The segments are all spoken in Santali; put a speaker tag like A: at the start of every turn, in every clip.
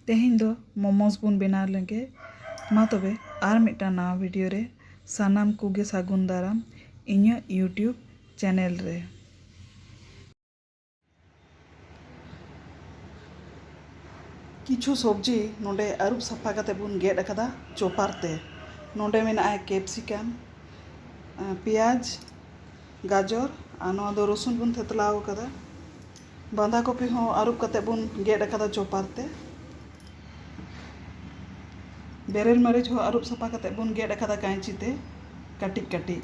A: ᱛᱮᱦᱮᱧ ᱫᱚ ᱢᱳᱢᱳᱥ ᱵᱚᱱ ᱵᱮᱱᱟᱣ ᱞᱮᱜᱮ ᱢᱟ ᱛᱚᱵᱮ ᱟᱨ ᱢᱤᱫᱴᱟᱝ ᱱᱟᱣᱟ ᱵᱷᱤᱰᱤᱭᱳ ᱨᱮ ᱥᱟᱱᱟᱢ ᱠᱚᱜᱮ ᱥᱟᱹᱜᱩᱱ ᱫᱟᱨᱟᱢ ᱤᱧᱟᱹᱜ ᱭᱩᱴᱩᱵᱽ ᱪᱮᱱᱮᱞ ᱨᱮ᱾ ᱠᱤᱪᱷᱩ ᱥᱚᱵᱽᱡᱤ ᱱᱚᱸᱰᱮ ᱟᱹᱨᱩᱵ ᱥᱟᱯᱷᱟ ᱠᱟᱛᱮ ᱵᱚᱱ ᱜᱮᱫ ᱟᱠᱟᱫᱟ ᱪᱚᱯᱟᱨ ᱛᱮ᱾ ᱱᱚᱸᱰᱮ ᱢᱮᱱᱟᱜᱼᱟ ᱠᱮᱯᱥᱤᱠᱟᱢ, ᱯᱮᱸᱭᱟᱡᱽ, ᱜᱟᱡᱚᱨ ᱟᱨ ᱱᱚᱣᱟ ᱫᱚ ᱨᱚᱥᱩᱱ ᱵᱚᱱ ᱛᱷᱮᱛᱞᱟᱣ ᱟᱠᱟᱫᱟ ᱵᱟᱸᱫᱷᱟ ᱠᱚᱯᱤ ᱦᱚᱸ ᱟᱹᱨᱩᱵ ᱠᱟᱛᱮ ᱵᱚᱱ ᱜᱮᱫ ᱟᱠᱟᱫᱟ ᱪᱚᱯᱟᱨ ᱛᱮ ᱵᱮᱨᱮᱞ ᱢᱟᱹᱨᱤᱪ ᱦᱚᱸ ᱟᱹᱨᱩᱵ ᱥᱟᱯᱷᱟ ᱠᱟᱛᱮ ᱵᱚᱱ ᱜᱮᱫ ᱟᱠᱟᱫᱟ ᱠᱟᱹᱭᱪᱤ ᱛᱮ ᱠᱟᱹᱴᱤᱡ ᱠᱟᱹᱴᱤᱡ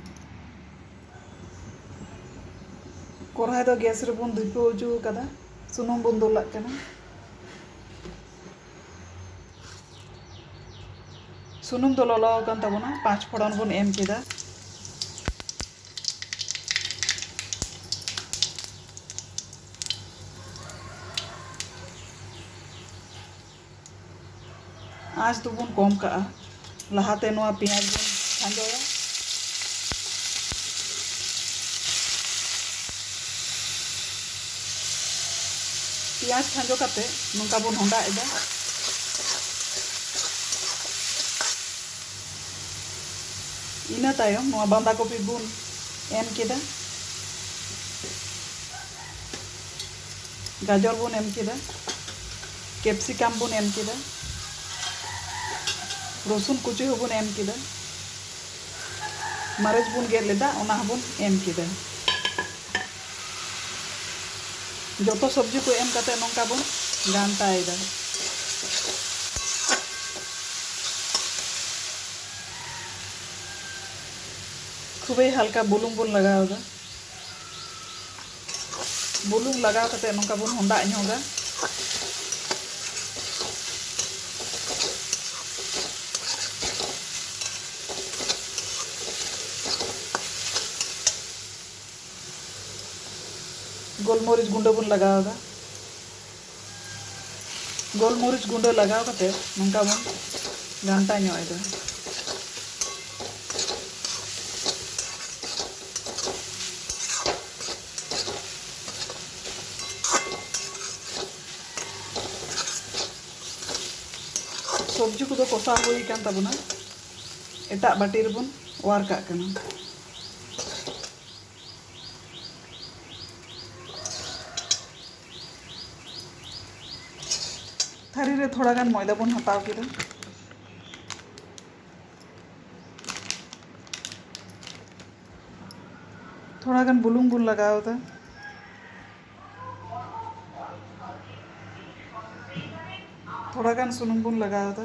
A: ᱠᱚᱨᱦᱟᱭ ᱫᱚ ᱜᱮᱥ ᱨᱮᱵᱚᱱ ᱫᱷᱤᱯᱟᱹᱣ ᱦᱚᱪᱚ ᱟᱠᱟᱫᱟ ᱥᱩᱱᱩᱢ ᱵᱚᱱ ᱫᱩᱞᱟᱜ ᱠᱟᱱᱟ ᱥᱩᱱᱩᱢ ᱫᱚ ᱞᱚᱞᱚ ᱟᱠᱟᱱ ᱛᱟᱵᱚᱱᱟ ᱯᱟᱸᱪ ᱯᱷᱚᱲᱚᱱ ᱵᱚᱱ ᱮᱢ ᱠᱮᱫᱟ ᱟᱸᱪ ᱫᱚᱵᱚᱱ ᱠᱚᱢ ᱠᱟᱜᱼᱟ ᱞᱟᱦᱟᱛᱮ ᱱᱚᱣᱟ ᱯᱮᱸᱭᱟᱡᱽ ᱵᱚᱱ ᱠᱷᱟᱸᱡᱚᱭᱟ ᱯᱮᱸᱭᱟᱡᱽ ᱠᱷᱟᱸᱡᱚ ᱠᱟᱛᱮ ᱱᱚᱝᱠᱟ ᱵᱚᱱ ᱦᱚᱸᱰᱟᱜ ᱮᱫᱟ ᱤᱱᱟᱹ ᱛᱟᱭᱚᱢ ᱱᱚᱣᱟ ᱵᱟᱸᱫᱟ ᱠᱚᱯᱤ ᱵᱚᱱ ᱮᱢ ᱠᱮᱫᱟ ᱜᱟᱡᱚᱨ ᱵᱚᱱ ᱮᱢ ᱠᱮᱫᱟ ᱠᱮᱯᱥᱤᱠᱟᱢ ᱵᱚᱱ ᱮᱢ ᱠᱮᱫᱟ ᱨᱚᱥᱩᱱ ᱠᱩᱪᱤ ᱦᱚᱸᱵᱚᱱ ᱮᱢ ᱠᱮᱫᱟ ᱢᱟᱹᱨᱤᱪ ᱵᱚᱱ ᱜᱮᱫ ᱞᱮᱫᱟ ᱚᱱᱟ ᱦᱚᱸᱵᱚᱱ ᱮᱢ ᱠᱮᱫᱟ ᱡᱚᱛᱚ ᱥᱚᱵᱽᱡᱤ ᱠᱚ ᱮᱢ ᱠᱟᱛᱮ ᱱᱚᱝᱠᱟ ᱵᱚᱱ ᱜᱷᱟᱱᱴᱟᱭᱮᱫᱟ ᱠᱷᱩᱵᱮ ᱦᱟᱞᱠᱟ ᱵᱩᱞᱩᱝ ᱵᱚᱱ ᱞᱟᱜᱟᱣᱫᱟ ᱵᱩᱞᱩᱝ ᱞᱟᱜᱟᱣ ᱠᱟᱛᱮ ᱱᱚᱝᱠᱟ ᱵᱚᱱ ᱦᱚᱸᱰᱟᱜ ᱧᱚᱜᱟ ᱜᱳᱞᱢᱚᱨᱤᱪ ᱜᱩᱸᱰᱟᱹ ᱵᱚᱱ ᱞᱟᱜᱟᱣ ᱮᱫᱟ ᱜᱳᱞᱢᱚᱨᱤᱪ ᱜᱩᱸᱰᱟᱹ ᱞᱟᱜᱟᱣ ᱠᱟᱛᱮ ᱱᱚᱝᱠᱟ ᱵᱚᱱ ᱜᱷᱟᱱᱴᱟ ᱧᱚᱜ ᱮᱫᱟ ᱥᱚᱵᱽᱡᱤ ᱠᱚᱫᱚ ᱠᱚᱥᱟᱣ ᱦᱩᱭ ᱟᱠᱟᱱ ᱛᱟᱵᱚᱱᱟ ᱮᱴᱟᱜ ᱵᱟᱹᱴᱤ ᱨᱮᱵᱚᱱ ᱚᱣᱟᱨ ᱠᱟᱜ ᱠᱟᱱᱟ ᱛᱷᱟᱹᱨᱤ ᱨᱮ ᱛᱷᱚᱲᱟ ᱜᱟᱱ ᱢᱚᱭᱫᱟ ᱵᱚᱱ ᱦᱟᱛᱟᱣ ᱠᱮᱫᱟ ᱛᱷᱚᱲᱟ ᱜᱟᱱ ᱵᱩᱞᱩᱝ ᱵᱚᱱ ᱞᱟᱜᱟᱣ ᱮᱫᱟ ᱛᱷᱚᱲᱟ ᱜᱟᱱ ᱥᱩᱱᱩᱢ ᱵᱚᱱ ᱞᱟᱜᱟᱣ ᱮᱫᱟ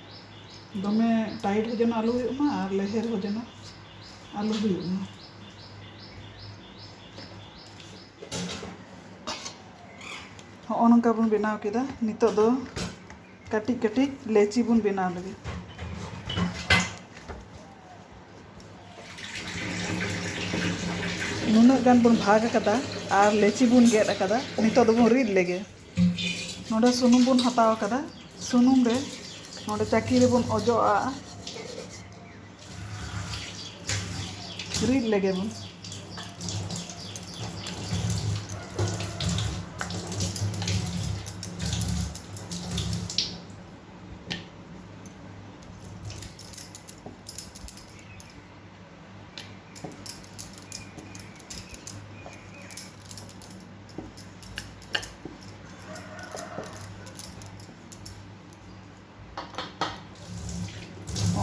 A: ᱫᱚᱢᱮ ᱴᱟᱭᱤᱴ ᱦᱚᱸ ᱡᱮᱱᱚ ᱟᱞᱚ ᱦᱩᱭᱩᱜ ᱢᱟ ᱟᱨ ᱞᱮᱦᱮᱨ ᱦᱚᱸ ᱡᱮᱱᱚ ᱟᱞᱚ ᱦᱩᱭᱩᱜ ᱢᱟ ᱦᱚᱸᱜᱼᱚ ᱱᱚᱝᱠᱟ ᱵᱚᱱ ᱵᱮᱱᱟᱣ ᱠᱮᱫᱟ ᱱᱤᱛᱚᱜ ᱫᱚ ᱠᱟᱹᱴᱤᱡ ᱠᱟᱹᱴᱤᱡ ᱞᱮᱪᱤ ᱵᱚᱱ ᱵᱮᱱᱟᱣ ᱞᱮᱜᱮ ᱱᱩᱱᱟᱹᱜ ᱜᱟᱱ ᱵᱚᱱ ᱵᱷᱟᱜᱽ ᱟᱠᱟᱫᱟ ᱟᱨ ᱞᱮᱪᱤ ᱵᱚᱱ ᱜᱮᱫ ᱟᱠᱟᱫᱟ ᱱᱤᱛᱚᱜ ᱫᱚᱵᱚᱱ ᱨᱤᱫ ᱞᱮᱜᱮ ᱱᱚᱰᱮ ᱥᱩᱱᱩᱢ ᱵᱚᱱ ᱦᱟᱛᱟᱣ ᱟᱠᱟᱫᱟ ᱥᱩᱱᱩᱢ ᱨᱮ ᱱᱚᱰᱮ ᱪᱟᱹᱠᱤ ᱨᱮᱵᱚᱱ ᱚᱡᱚᱜ ᱟᱜᱼᱟ ᱨᱤᱫ ᱞᱮᱜᱮ ᱵᱚᱱ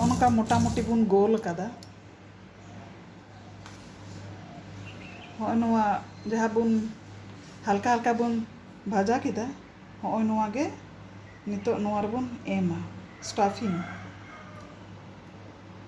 A: ᱱᱚᱝᱠᱟ ᱢᱚᱴᱟᱢᱩᱴᱤ ᱵᱚᱱ ᱜᱳᱞ ᱟᱠᱟᱫᱟ ᱦᱚᱸᱜᱼᱚᱭ ᱱᱚᱣᱟ ᱡᱟᱦᱟᱸ ᱵᱚᱱ ᱦᱟᱞᱠᱟ ᱦᱟᱞᱠᱟ ᱵᱚᱱ ᱵᱷᱟᱡᱟ ᱠᱮᱫᱟ ᱦᱚᱸᱜᱼᱚᱭ ᱱᱚᱣᱟ ᱜᱮ ᱱᱤᱛᱚᱜ ᱱᱚᱣᱟ ᱨᱮᱵᱚᱱ ᱮᱢᱟ ᱥᱴᱟᱯᱷᱤᱝ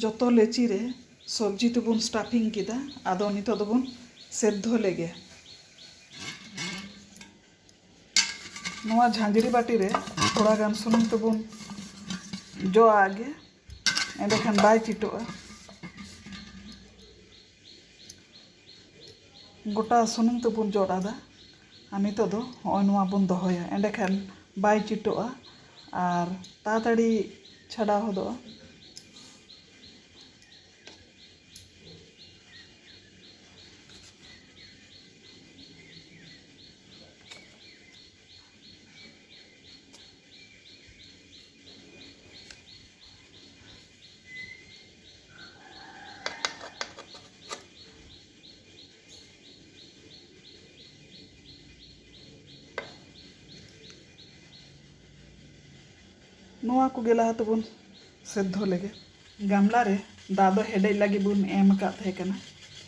A: ᱡᱚᱛᱚ ᱞᱮᱪᱤ ᱨᱮ ᱥᱚᱵᱽᱡᱤ ᱛᱮᱵᱚᱱ ᱥᱴᱟᱯᱷᱤᱝ ᱠᱮᱫᱟ ᱟᱫᱚ ᱱᱤᱛᱚᱜ ᱫᱚᱵᱚᱱ ᱥᱮᱫᱽᱫᱷᱚ ᱞᱮᱜᱮ᱾ ᱱᱚᱣᱟ ᱡᱷᱟᱸᱡᱽᱨᱤ ᱵᱟᱹᱴᱤ ᱨᱮ ᱛᱷᱚᱲᱟ ᱜᱟᱱ ᱥᱩᱱᱩᱢ ᱛᱮᱵᱚᱱ ᱡᱚ ᱟᱜ ᱜᱮ ᱮᱸᱰᱮᱠᱷᱟᱱ ᱵᱟᱭ ᱪᱤᱴᱚᱜᱼᱟ᱾ ᱜᱚᱴᱟ ᱥᱩᱱᱩᱢ ᱛᱮᱵᱚᱱ ᱡᱚᱫ ᱟᱫᱟ ᱟᱨ ᱱᱤᱛᱚᱜ ᱫᱚ ᱦᱚᱸᱜᱼᱚᱭ ᱱᱚᱣᱟ ᱵᱚᱱ ᱫᱚᱦᱚᱭᱟ ᱮᱸᱰᱮ ᱠᱷᱟᱱ ᱵᱟᱭ ᱪᱤᱴᱚᱜᱼᱟ ᱟᱨ ᱛᱟᱲᱟᱛᱟᱲᱤ ᱪᱷᱟᱰᱟᱣ ᱦᱚᱫᱚᱜᱼᱟ ᱱᱚᱣᱟ ᱠᱚᱜᱮ ᱞᱟᱦᱟ ᱛᱮᱵᱚᱱ ᱥᱮᱫᱽᱫᱷᱚ ᱞᱮᱜᱮ ᱜᱟᱢᱞᱟ ᱨᱮ ᱫᱟᱜ ᱫᱚ ᱦᱮᱰᱮᱡ ᱞᱟᱹᱜᱤᱫ ᱵᱚᱱ ᱮᱢ ᱟᱠᱟᱫ ᱛᱟᱦᱮᱸ ᱠᱟᱱᱟ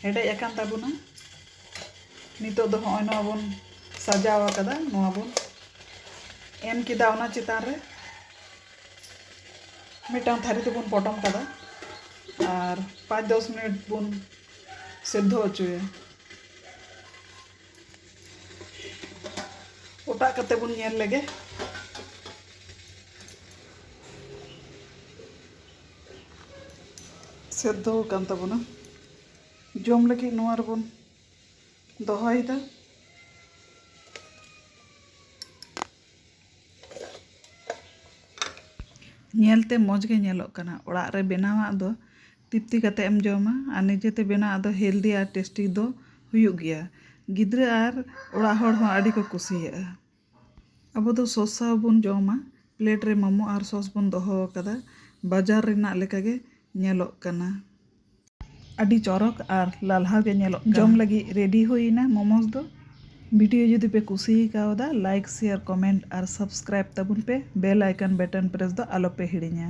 A: ᱦᱮᱰᱮᱡ ᱟᱠᱟᱱ ᱛᱟᱵᱚᱱᱟ ᱱᱤᱛᱚᱜ ᱫᱚ ᱦᱚᱸᱜᱼᱚᱭ ᱱᱚᱣᱟ ᱵᱚᱱ ᱥᱟᱡᱟᱣ ᱟᱠᱟᱫᱟ ᱱᱚᱣᱟ ᱵᱚᱱ ᱮᱢ ᱠᱮᱫᱟ ᱚᱱᱟ ᱪᱮᱛᱟᱱ ᱨᱮ ᱢᱤᱫᱴᱟᱝ ᱛᱷᱟᱹᱨᱤ ᱛᱮᱵᱚᱱ ᱯᱚᱴᱚᱢ ᱠᱟᱫᱟ ᱟᱨ ᱯᱟᱸᱪ ᱫᱚᱥ ᱢᱤᱱᱤᱴ ᱵᱚᱱ ᱥᱮᱫᱽᱫᱷᱚ ᱦᱚᱪᱚᱭᱟ ᱚᱴᱟᱜ ᱠᱟᱛᱮ ᱵᱚᱱ ᱧᱮᱞ ᱞᱮᱜᱮ ᱥᱮᱫᱽᱫᱷᱚ ᱟᱠᱟᱱ ᱛᱟᱵᱚᱱᱟ ᱡᱚᱢ ᱞᱟᱹᱜᱤᱫ ᱱᱚᱣᱟ ᱨᱮᱵᱚᱱ ᱫᱚᱦᱚᱭᱮᱫᱟ ᱧᱮᱞᱛᱮ ᱢᱚᱡᱽ ᱜᱮ ᱧᱮᱞᱚᱜ ᱠᱟᱱᱟ ᱚᱲᱟᱜ ᱨᱮ ᱵᱮᱱᱟᱣᱟᱜ ᱫᱚ ᱛᱤᱯᱛᱤ ᱠᱟᱛᱮ ᱮᱢ ᱡᱚᱢᱟ ᱟᱨ ᱱᱤᱡᱮ ᱛᱮ ᱵᱮᱱᱟᱣ ᱟᱜ ᱫᱚ ᱦᱮᱞᱫᱤ ᱟᱨ ᱴᱮᱥᱴᱤ ᱫᱚ ᱦᱩᱭᱩᱜ ᱜᱮᱭᱟ ᱜᱤᱫᱽᱨᱟᱹ ᱟᱨ ᱚᱲᱟᱜ ᱦᱚᱲ ᱦᱚᱸ ᱟᱹᱰᱤ ᱠᱚ ᱠᱩᱥᱤᱭᱟᱜᱼᱟ ᱟᱵᱚ ᱫᱚ ᱥᱚᱥ ᱥᱟᱶ ᱵᱚᱱ ᱡᱚᱢᱟ ᱯᱞᱮᱴ ᱨᱮ ᱢᱳᱢᱳ ᱟᱨ ᱥᱚᱥ ᱵᱚᱱ ᱫᱚᱦᱚ ᱟᱠᱟᱫᱟ ᱵᱟᱡᱟᱨ ᱨᱮᱱᱟᱜ ᱞᱮᱠᱟ ᱜᱮ ᱧᱮᱞᱚᱜ ᱠᱟᱱᱟ᱾ ᱟᱹᱰᱤ ᱪᱚᱨᱚᱠ ᱟᱨ ᱞᱟᱞᱦᱟᱣ ᱜᱮ ᱧᱮᱞᱚᱜ ᱠᱟᱱᱟ᱾ ᱡᱚᱢ ᱞᱟᱹᱜᱤᱫ ᱨᱮᱰᱤ ᱦᱩᱭ ᱮᱱᱟ ᱢᱳᱢᱳᱥ ᱫᱚ᱾ ᱵᱷᱤᱰᱤᱭᱳ ᱡᱩᱫᱤ ᱯᱮ ᱠᱩᱥᱤ ᱠᱟᱣᱫᱟ ᱞᱟᱭᱤᱠ ᱥᱮᱭᱟᱨ ᱠᱚᱢᱮᱱᱴ ᱟᱨ ᱥᱟᱵᱥᱠᱨᱟᱭᱤᱵ ᱛᱟᱵᱚᱱ ᱯᱮ ᱵᱮᱞ ᱟᱭᱠᱚᱱ ᱵᱮᱴᱚᱱ ᱯᱨᱮᱥ ᱫᱚ ᱟᱞᱚ ᱯᱮ ᱦᱤᱲᱤᱧᱟ᱾